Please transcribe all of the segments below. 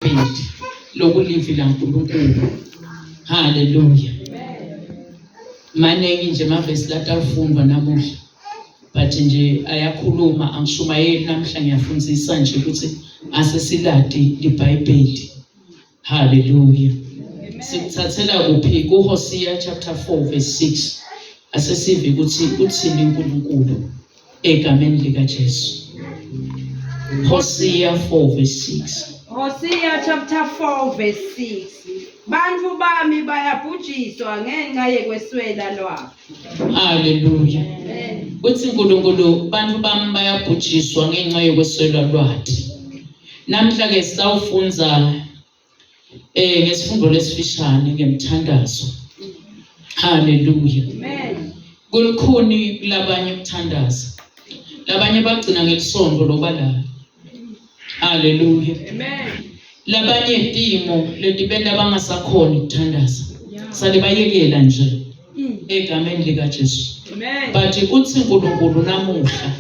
Bindi lokulivi laNkulunkulu. Haleluya. Maningi nje amavesi latafundwa namuhla. But nje ayakhuluma angishumayeli namhla ngiyafundisa nje ukuthi ase siladi iBhayibheli. Haleluya. Sikuthathela kuphi kuHosiya chapter 4 verse 6. Asesive ukuthi uthini uNkulunkulu. egameni likaJesu Hosea 4 verse 6 Hosea chapter 4 verse 6 Bantu bami bayabhujiswa ngenxa yekweswela lwabo Hallelujah Uthi uNkulunkulu bantu bami bayabhujiswa ngenxa yekweswela lwathi Namhla ke sawufunza eh ngesifundo lesifishane ngemthandazo haleluya amen kulukhuni kulabanye ukuthandaza labanye bagcina ngelisonto loba la haleluya amen labanye timo letibenta bangasakhona ukuthandaza sale bayekela nje mm. egameni lika Jesu amen but uthi uNkulunkulu namuhla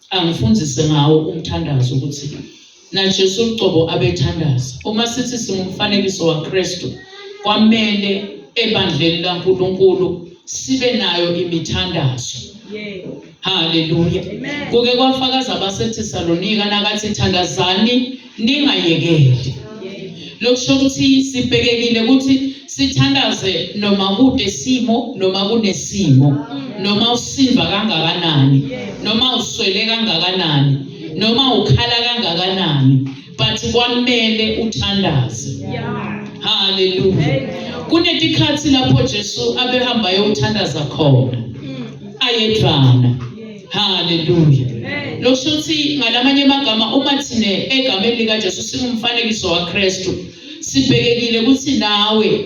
angifundise ngawo umthandazo ukuthi NaJesu uqobo abethandaza. Uma sithi singumfanekiso waKristu, kwamele ebandleni laNkulunkulu sibe nayo imithandazo. Haleluya. Kuke kwafakaza abasethi Salonika nakathi thandazani ningayekeli. Lokusho ukuthi sibhekekile ukuthi sithandaze noma kude simo noma kunesimo noma usiva kangakanani noma uswele kangakanani noma ukhala kangakanani but kwamele uthandaze haleluya kunetikhathi lapho Jesu abehamba yothandaza khona ayedvana haleluya lokusho ukuthi ngalamanye amagama uma thina egameni likaJesu singumfanekiso waKristu sibhekekile ukuthi nawe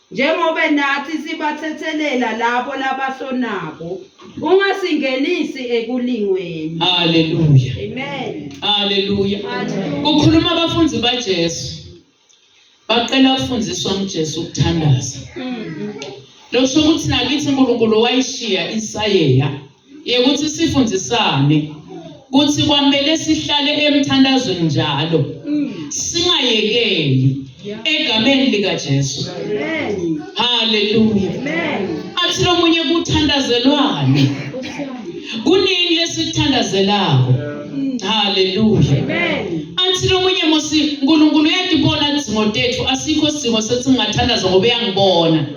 njengobe natsi sibathethelela labo labasonako ungasingenisi ekulingweni haleluya amen haleluya kukhuluma abafundi baJesu baqela ukufundiswa nguJesu ukuthandaza mm-hmm. losho ukuthi nakithi uNkulunkulu wayishiya isayeya Yekuthi sifundisane kuthi kwamele sihlale emthandazweni njalo singayekeli egameni likaJesu. Haleluya. Athi lomunye kuthandazelwane. Kunini lesithandazelako? Haleluya. Athi lomunye musi uNkulunkulu uyadibona idzingo tethu asikho sidingo sethi ngingathandaza ngoba uyangibona.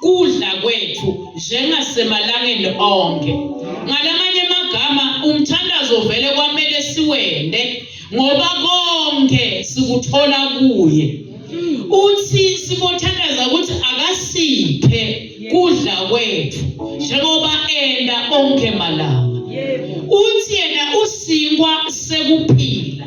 kudla kwethu njengasemalangeni onke. Ngalamanye amagama umthandazo vele kwamele siwende ngoba konke sikuthola kuye. Uthi sibothandaza ukuthi akasiphe kudla kwethu njengoba enda onke malanga. Uthi yena usinkwa sekuphila.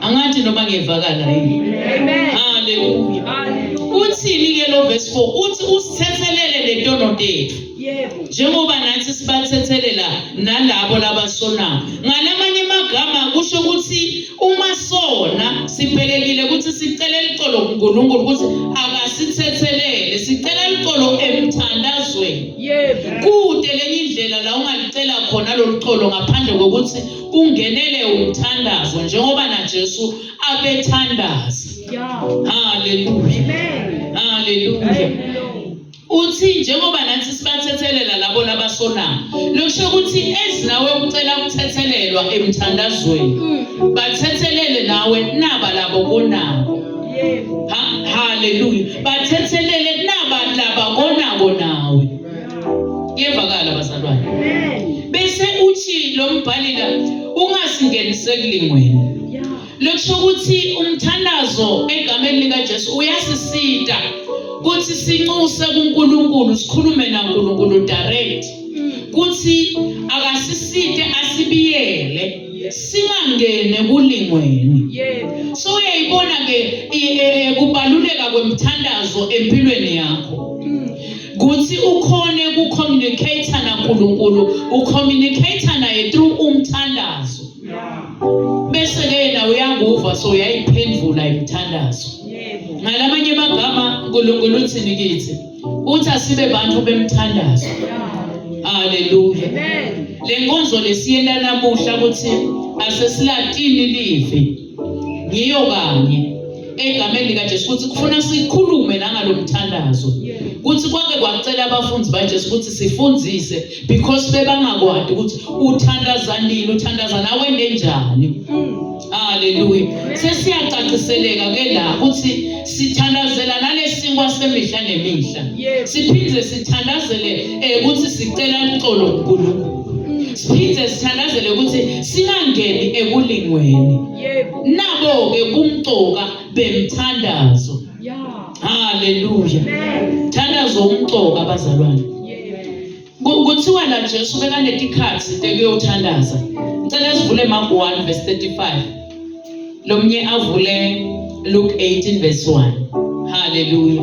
angathi noma ngiyevakala yini haleluya uthini-ke lo vesi 4 uthi usithethelele letono tethu njengoba nathi sibathethelela nalabo labasonayo ngalamanye amagama kusho ukuthi uma sona sibhekekile ukuthi sicele licolo kunkulunkulu ukuthi akasithethelele sicela licolo emthandazweni kude lenye indlela la ungalicela khona lolu colo ngaphandle kokuthi kungenele umthandazo njengoba naJesu abethandaza haleluya haleluya uthi njengoba nathi sibathethelela labo labasonayo lokusho ukuthi ezinawe ukucela ukuthethelelwa emthandazweni mm. bathethelele nawe naba labo konako haleluya bathethelele naba laba konako nawe Kuyevakala bazalwane. Bese uthi lo mbhali la ungasingeniseli ngwena. Lokusho ukuthi umthandazo egameni lika Jesu uyasisita kuthi sinxuse kuNkulunkulu sikhulume naNkulunkulu direct kuthi akasisite asibiyele singangene kulingweni so uyayibona ke eh, eh, kubaluleka kwemthandazo empilweni yakho kuthi ukhone ukucommunicator naNkulunkulu ucommunicator naye through umthandazo bese ke yena uyakuva so uyayiphendula imthandazo ngalamanye amagama uNkulunkulu uthini kithi uthi asibe bantu bemthandazo haleluya le nkonzo lesiyela namuhla ukuthi asesilatini live ngiyo kanye egameni likaJesu ukuthi kufuna sikhulume nangalo mthandazo ukuthi kwake kwacela abafundi baJesu ukuthi sifundise because bebangakwadi ukuthi uthandaza nini uthandaza nawe ngenjani haleluya sesiyacaciseleka ke la ukuthi sithandazela nalesinkwa semihla nemihla siphinde sithandazele eh, ukuthi sicela uxolo kuNkulunkulu siphinde sithandazele ukuthi singangeni ekulingweni nabo-ke kumcoka bemthandazo haleluya thandazo umcoka abazalwane kuthiwa la jesu bekanetikhathi tekuyothandaza ngicela sivule mark 1 verse 35 lo mnye avule luke 18 verse 1 haleluya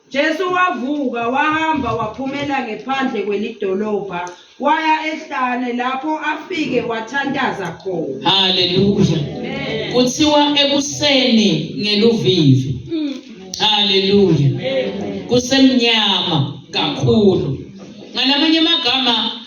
Jesu wavuka wahamba waphumela ngephandle kwelidolobha waya ehlane lapho afike wathandaza khona. Haleluya. Kuthiwa ekuseni ngeluvivi. Mm. Haleluya. Kusemnyama kakhulu. Ngalamanye amagama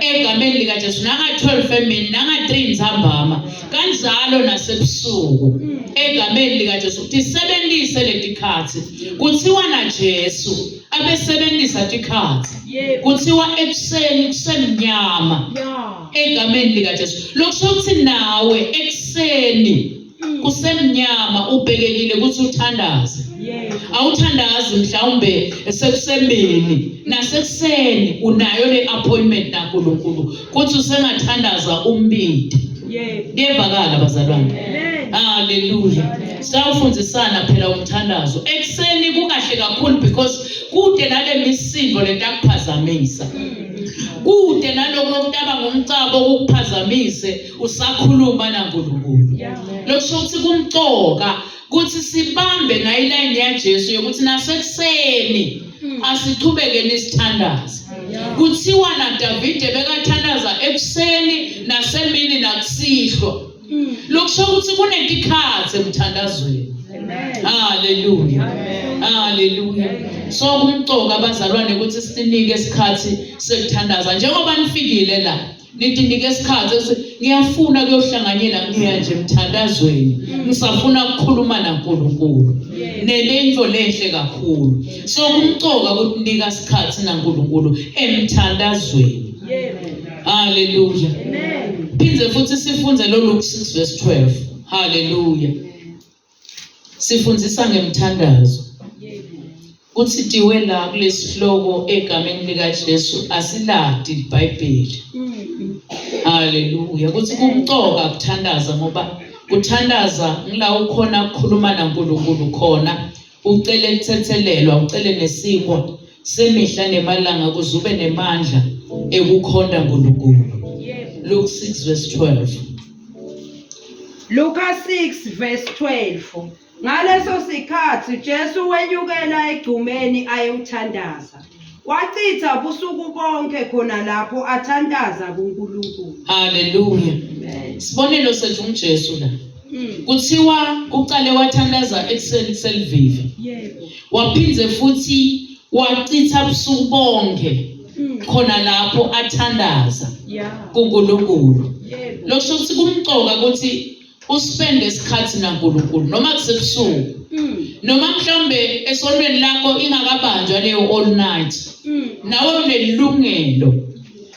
egameni likaJesu nanga-12 emini nanga-3 ntsambama kanjalo nasebusuku egameni likaJesu ukuthi sebenzise letikhathi kuthiwa naJesu abesebenzisa tikhathi kuthiwa ekuseni kusemnyama egameni likaJesu lokusho ukuthi nawe ekuseni kusemnyama ubhekekile ukuthi uthandaze awuthandazi mhlawumbe sekusembeni nasekuseni unayo le appointment naNkulunkulu kuthi usengathandaza umbindi kuyevakala bazalwane haleluya sawufundisana phela umthandazo ekuseni kukahle kakhulu because kude nale misindo lento akuphazamisa mm. kude naloko okutaba ngomcabo okukuphazamise usakhuluma naNkulunkulu lokusho ukuthi kumcoka ukuthi sibambe nayo ilayini yaJesu yokuthi nasekuseni hmm. asiqhubekeni isithandazi kuthiwa naDavide bekathandaza ekuseni nasemini nakusihlwa hmm. lokusho ukuthi kunentikhathi emthandazweni haleluya haleluya so kumcoka abazalwane ukuthi sinike isikhathi sekuthandaza njengoba nifikile la nidinike isikhathi ese ngiyafuna kuyohlanganyela kuya nje emthandazweni ngisafuna ukukhuluma naNkulunkulu nelento lenhle kakhulu so kumcoka ukuthi nika isikhathi naNkulunkulu emthandazweni haleluya phinde futhi sifunde lolu 6 verse 12 haleluya Sifundisa ngemthandazo. Kuthi tiwe la kulesihloko egameni lika Jesu asiladi iBhayibheli. Haleluya. Kuthi kumqoka kuthandaza ngoba kuthandaza ngila ukhona ukukhuluma naNkulunkulu khona ucele kuthethelelwa ucele nesikwa semihla nemalanga kuze ube nemandla ekukhonda uNkulunkulu Luke 6 verse 12 Luka 6 verse 12 Ngaleso sikhathi Jesu wenyukela egcumeni ayewuthandaza wachitha ubusuku bonke khona lapho athandaza kuNkulunkulu Hallelujah Sibonelo sethu uJesu la Mm. Kuthiwa uqale wathandaza ekuseni kuselivivi. Yebo. Waphinde futhi wachitha ubusuku bonke mm. khona lapho athandaza kuNkulunkulu. Losho ukuthi kumqoka ukuthi uspende isikhathi naNkulunkulu noma kusebusuku. Mm. Noma mhlawumbe esontweni lakho ingakabanjwa leyo all night. Nawe unelungelo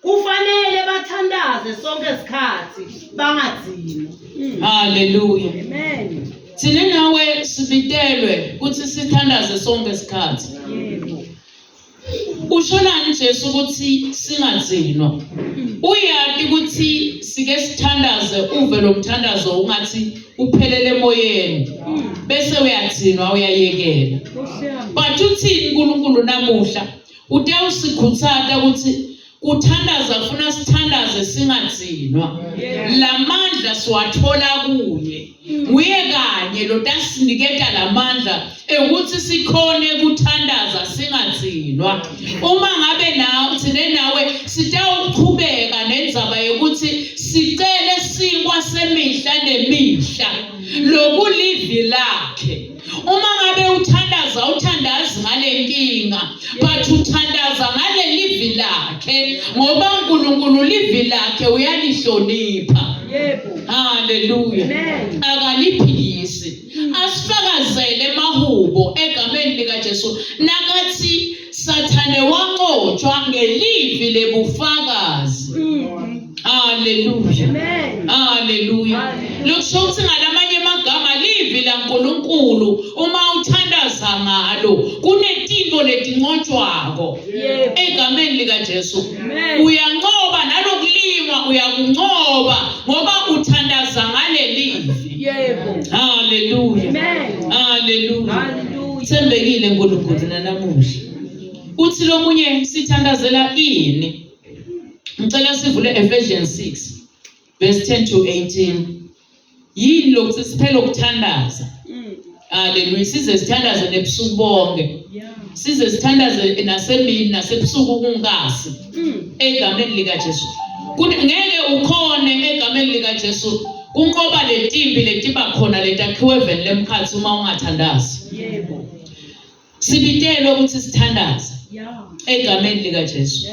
kufanele bathandaze sonke isikhathi bangadini haleluya amen thina nawe sibitelwe ukuthi sithandaze sonke isikhathi ushonani Jesu ukuthi singadzinwa uyati ukuthi sike sithandaze uve lomthandazo ungathi uphelele emoyeni bese uyadzinwa uyayekela but uthini uNkulunkulu namuhla Ute usikhutsata ukuthi kuthandaza kufuna sithandaze singadzinwa. Lamandla siwathola kuye. Nguye kanye lotasiniketa lamandla ekuthi sikhone kuthandaza singadzinwa. Uma ngabe nawe thine nawe sitawuqhubeka nendzaba yokuthi sicele sikwa semihla nemihla lokulivi lakhe. uma ngabe uthandaza uthandazi ngale nkinga but uthandaza ngale livi lakhe ngoba uNkulunkulu livi lakhe uyalihlonipha yebo haleluya akaliphikisi asifakazele mahubo egameni likaJesu nakathi Sathane wanqotshwa ngelivi lebufakazi. Mm. Haleluya. Amen. Haleluya. Lokusho ukuthi ngalamanye amagama livi laNkulunkulu uma uthandaza ngalo kunetintfo letinqotshwako egameni lika Jesu. Uyanqoba nalokulingwa uyakunqoba ngoba uthandaza ngalelivi. Yebo. Hallelujah. Amen. Hallelujah. Hallelujah. Sembekile uNkulunkulu nanamuhla. Uthi lomunye sithandazela ini? Ngicela sivule Ephesians 6 verse 10 to 18. Yini lokuthiphela ukuthandaza? Haleluya. Size sithandaze nebusuku bonke. Size sithandaze nasemini nasebusuku kungasi. Mm. Egameni lika Jesu. Ngeke ukhone egameni lika Jesu kunqoba letimpi letiba khona letakhiwe vele lemkhathi uma ungathandazi. Yebo. Sibitelwe ukuthi sithandaze. Egameni lika Jesu.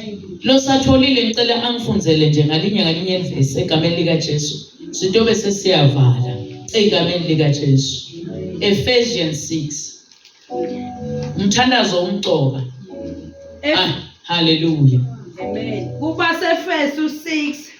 Lo satholile ngicela angifunzele nje ngalinye ngalinye verse egameni lika Jesu. Sitobe sesiyavala egameni lika Jesu. Ephesians 6. Umthandazo umcoka. Ah, hallelujah. Amen. Kuba seFesu 6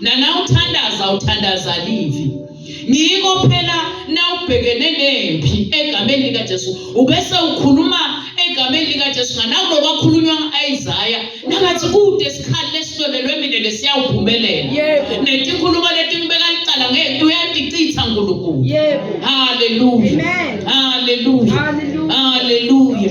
nanawuthandaza uthandaza livi ngiko phela nawubhekene nempi egameni likaJesu ubese ukhuluma egameni likaJesu nganakulo kwakhulunywa Isaiah nakathi kude isikhathi lesihlolelwe mina lesiyawuphumelela yebo netikhuluma letimbeka licala ngeke uyadicitha uNkulunkulu yebo haleluya amen haleluya haleluya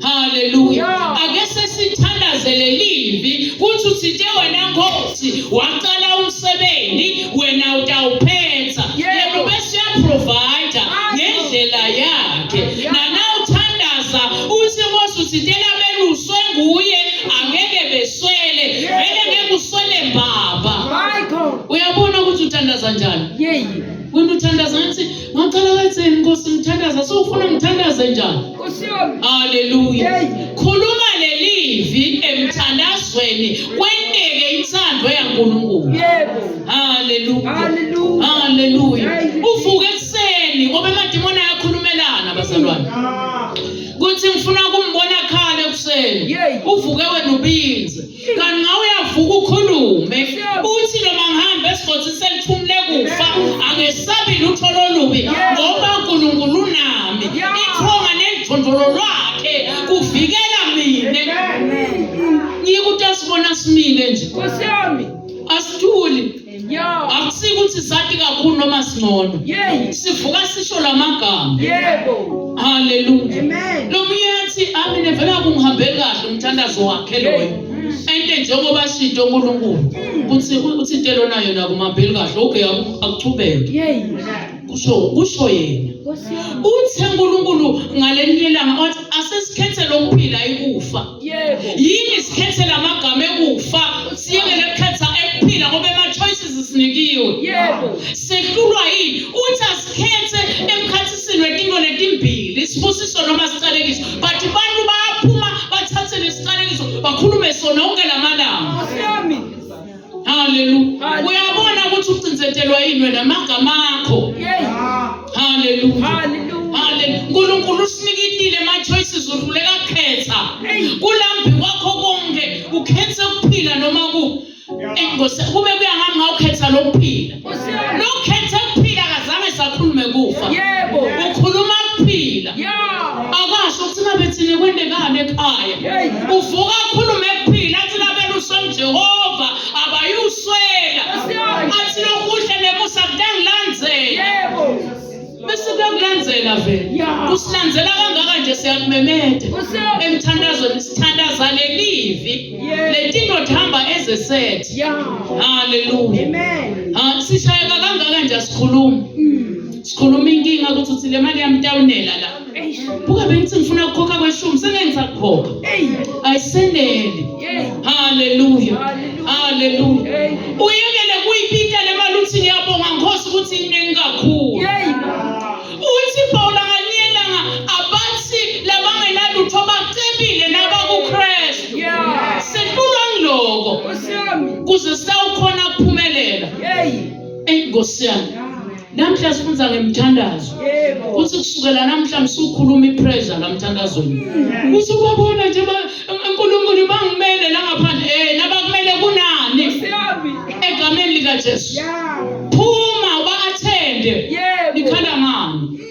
haleluya ake sesithandaze lelivi kuthi uthinte wena nkosi waqala umsebenzi wena utawuphetha yena ubese uyaprovider ngendlela yakhe nana uthandaza uthi nkosi uthintela beluswe nguye angeke beswele vele ngeke uswele baba uyabona ukuthi uthandaza njani wena uthandaza ngathi Ngacela wetheni Nkosi ngithandaza sofuna ngithandaze njani? Haleluya. Khuluma lelivi emthandazweni kwenteke intando yaNkulunkulu. Yebo. Haleluya. Haleluya. Haleluya. Uvuke ekseni ngoba emadimoni ayakulumelana bazalwane. Kuthi ngifuna kumbona khale ekseni. Uvuke wena ubinze. kanti ngawe uyavuka ukhulume uthi noma ngihambe esigodzi selithumule kufa angesabi lutho lolubi ngoba unkulunkulu unami ithonga nelidondolo lwakhe kuvikela mina ngiyikuthi asibona simile nje asithuli akusike ukuthi sati kakhulu noma singcono sivuka sisho la magama yebo haleluya lo myethi amine vele akungihambeli kahle umthandazo wakhe loyo ente njengoba shinto uNkulunkulu ukuthi uthinte lona yona kumambili kahle okay akuchubeke kusho kusho yena uthe uNkulunkulu ngalelinye ilanga wathi asesikhethela ukuphila ikufa yini sikhethela amagama ekufa siyekele ukukhetha ekuphila ngoba ama-choices sinikiwe sehlulwa yini uthi asikhethe emkhathisini wetinto letimbili isibusiso noma siqalekiso but abantu bayaphuma bathathe lesiqalekiso bakhulume sona onke la malanga Hallelujah. Uyabona ukuthi ucinzetelwa yini wena amagama akho. Hallelujah. Hallelujah. Unkulunkulu usinikitile ama choices uhluleka kukhetha. Kulambi kwakho konke ukhetha ukuphila noma ku. Engosi kube kuyahamba ukhetha lokuphila. Lokhethe ukuphila akazange sakhulume kufa. Yebo. Ukhuluma ukuphila. Yeah. Akasho ukuthi ngabe thina kwendekani ekhaya. Uvuka akhulume ukuphila athi labela useJehova abayuswela. Athi lokuhle nemusa kutangilandzela. Yebo. bese kuyakulenzela vele Yeah. usilandzela kangaka nje siyakumemeta Use- emthandazweni sithandaza lelivi Yeah. letinto tihamba ezesethi Yeah. haleluya Amen. Ah, sishayeka kangaka nje asikhulumi Mm. sikhuluma inkinga ukuthi uthi le mali yami itawunela la buka bengithi ngifuna ukukhokha kweshumi sengengisakukhokha ayiseneli haleluya haleluya uyekele kuyipita le mali uthi ngiyabonga nkosi ukuthi iningi kakhulu uthi pawula nganyelanga abathi labangenalutho bacebile nabakukrestu setulwa ngiloko kuze sitawukhona kuphumelela eyi nkosi yami Namhla sifunda ngemthandazo. Kuthi kusukela namhla msukhuluma ipressure lamthandazweni. Kuthi ubabona nje uNkulunkulu bangimele la ngaphandle eh nabakumele kunani. Egameni lika Jesu. Phuma uba athende. Ikhala ngani?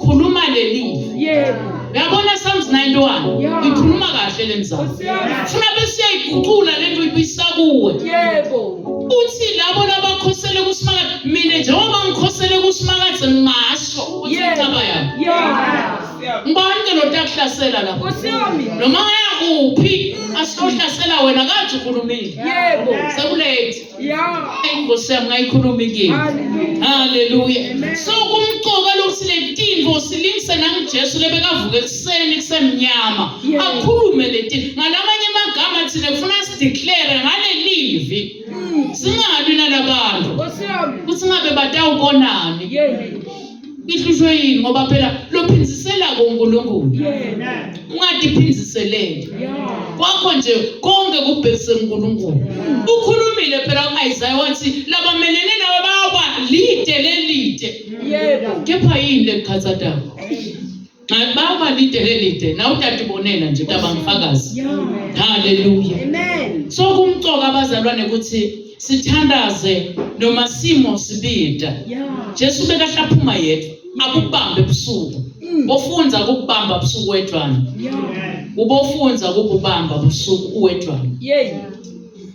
khuluma lelifa yebo yabona Psalms 91 ikhuluma kahle lemzamo funa bese igucula lento ibisa kuwe yebo uthi labo labakhosele kusimakade mina njengoba ngikhosele kusimakade ngingasho ukuthi incaba yami ngibani ke lotakuhlasela lapho noma yakuphi asihlasela wena kathi ukhulumile yebo sekulate inkosi yami ngayikhuluma inkinga haleluya so kumqoka lokuthi le tinto silingise nangujesu lebekavuka ekuseni kusemnyama akhulume le tinto ngalamanye amagama thina kufuna sideclare ngale livi mm. singabi nalabantu ukuthi ngabe batawubonani Ihlushwe yini ngoba phela lophindisela kuNkulunkulu. Ungadiphindiseleli. Kwakho nje konke kubhekise kuNkulunkulu. Ukhulumile phela uIsaiah wathi labamelene nawe bayoba lide lelide. Yebo. Kepha yini lekukhathathayo? Kanti bawuba lide lelide na utata ubonela nje utaba ngifakazi. Hallelujah. Amen. So kumcoka abazalwane ukuthi sithandaze noma simo sibida. Jesu bekahlaphuma yedwa akubambe ebusuku. Mm. Ofunza ukubamba ebusuku wedwana. Ubofunza ukubamba ebusuku uwedwana. Yey.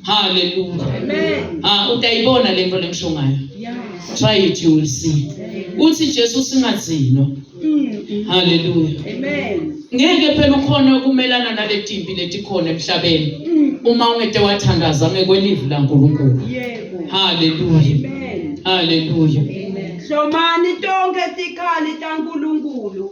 Hallelujah. Amen. Ah utayibona lento lengisho ngayo. Yeah. Try it you will see. Uthi Jesu singathino. Mm. Hallelujah. Amen. Ngeke phela ukhona ukumelana naletimpi letikhona emhlabeni. Mm. Uma ungete wathandaza ngekwelivi laNkulunkulu. Yebo. Hallelujah. Amen. Hallelujah. Amen. Hlomani tonke tikhali taNkulunkulu.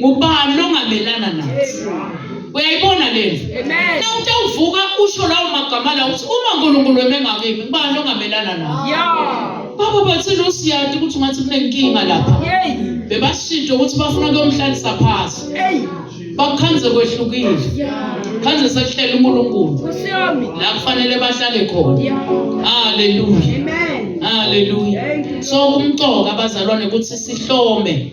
ngubani ongamelana nathi uyayibona lento na utawuvuka usho lawo magama lawo ukuthi uma unkulunkulu weme ngakimi ngubani ongamelana nawo baba bathile usiyadi ukuthi ungathi kunenkinga lapha bebashintshe ukuthi bafuna kuyomhlalisa phasi bakukhanze kwehlukile khanze sekuhlela unkulunkulu la kufanele bahlale khona haleluya haleluya so kumcoka abazalwane ukuthi sihlome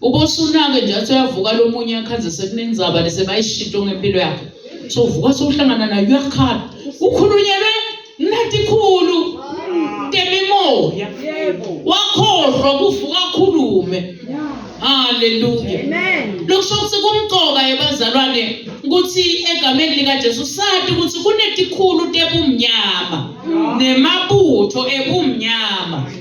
Ubosunake nje athi uyavuka lo munye akhaze sekuningi zaba lese bayishinto ngempilo yakhe. So uvuka sowuhlangana nayo uyakhala. Ukhulunyelwe nathi khulu. Ntemimoya. Wakhohlwa kuvuka akhulume. Haleluya. Amen. Lokusho ukuthi kumqoka yebazalwane ukuthi egameni lika Jesu sathi ukuthi kunetikhulu tebumnyama nemabutho ebumnyama.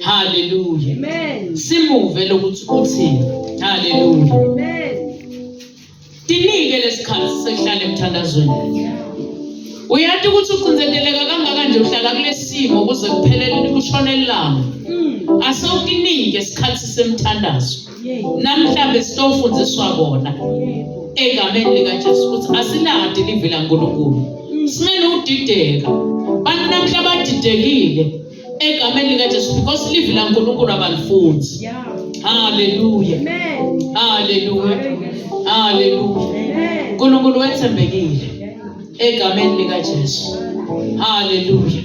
haleluya simuve lokuthi uthini haleluya tinike lesikhathi sekuhlala emthandazweni uyati ukuthi ucinzeteleka kangakanje uhlala kulesimo kuze kuphelele kushona ilanga hmm. asewukinike isikhathi semthandazo namhlanje sitofundiswa kona egameni likaJesu ukuthi asiladi livi laNkulunkulu hmm. singene udideka bantu namhla badidekile egameni likajesu because livi lankulunkulu abalifundi haleluya haleluya haleluya nkulunkulu wethembekile egameni likajesu haleluya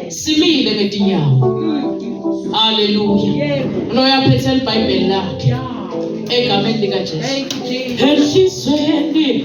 simile ngetinyawo mm. haleluya unoyaphethe libhayibheli lakhe egameni likajesu enhlizweni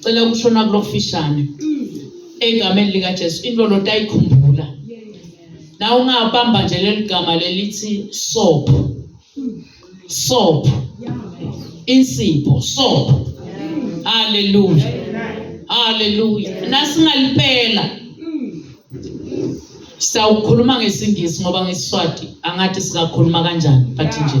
cela ukushona kulofishane egameni lika Jesu into lo tayikhumbula na ungabamba nje leligama lelithi soap soap insipho soap haleluya haleluya nasingalipela sawukhuluma ngesingisi ngoba ngesiswati angathi sikakhuluma kanjani but nje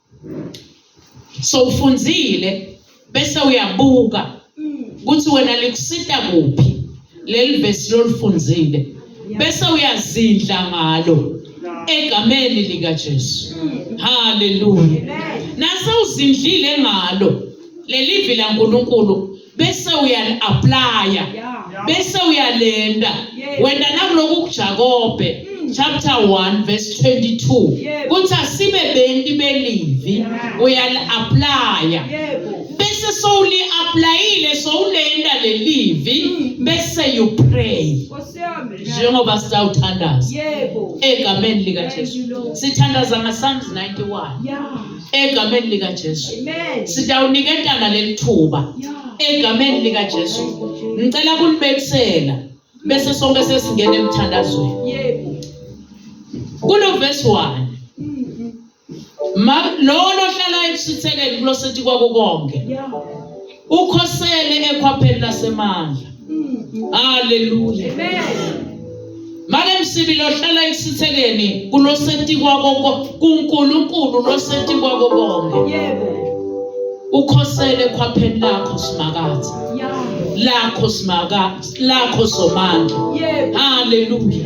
so ufunzile bese uyabuka ukuthi wena likusita kuphi leli vesi lolufunzile bese uyazindla ngalo egameni likaJesu haleluya nase uzindlile ngalo leli vila uNkulunkulu bese uyali-aplaya bese uyalenda wenda nakuloku kujakobe hmm. chapter 1 verse 22 kuthi asibe benti belivi uyali-aplaya bese sowuli-aplayile sowulenda lelivi hmm. bese you pray njengoba sisawuthandaza egameni likajesu sithandaza ngasalms 91 egameni lika Jesu sitawuniketana lelithuba egameni lika Jesu ngicela kulibekisela bese sonke sesingena emthandazweni yebo kulo verse 1 ma lona ohlala ekusithekeni kulosethi kwakukonke yeah ukhosele ekhwapheni lasemandla haleluya manje msibi lohlala ekusithekeni kuloseti kwako kuNkulunkulu loseti kwako konke yebo ukhosele ekhwapheni lakho simakathi lakho simaka lakho somandla haleluya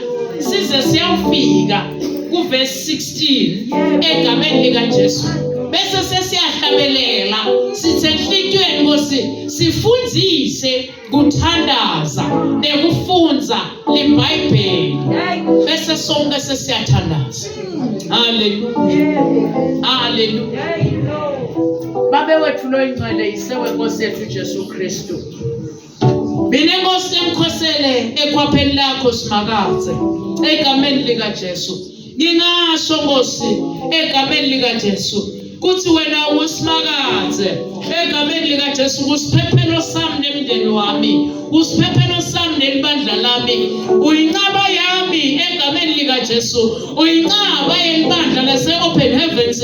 size siyafika kuvesi 16 egameni likaJesu bese sesiyahlabelela sithe enhlitweni Nkosi sifundise kuthandaza nekufunza liBhayibheli bese sonke sesiyathandaza haleluya haleluya babe wethu loyincele yisewe Nkosi yethu Jesu Kristu mina inkosi emkhosele ekhwapheni lakho simakadze egameni likaJesu ngingasho nkosi egameni likaJesu kuthi wena usimakadze egameni likaJesu kusiphephelo sami nemndeni wami kusiphephelo sami nelibandla lami uyinqaba yami egameni likaJesu uyinqaba yelibandla lase open heavens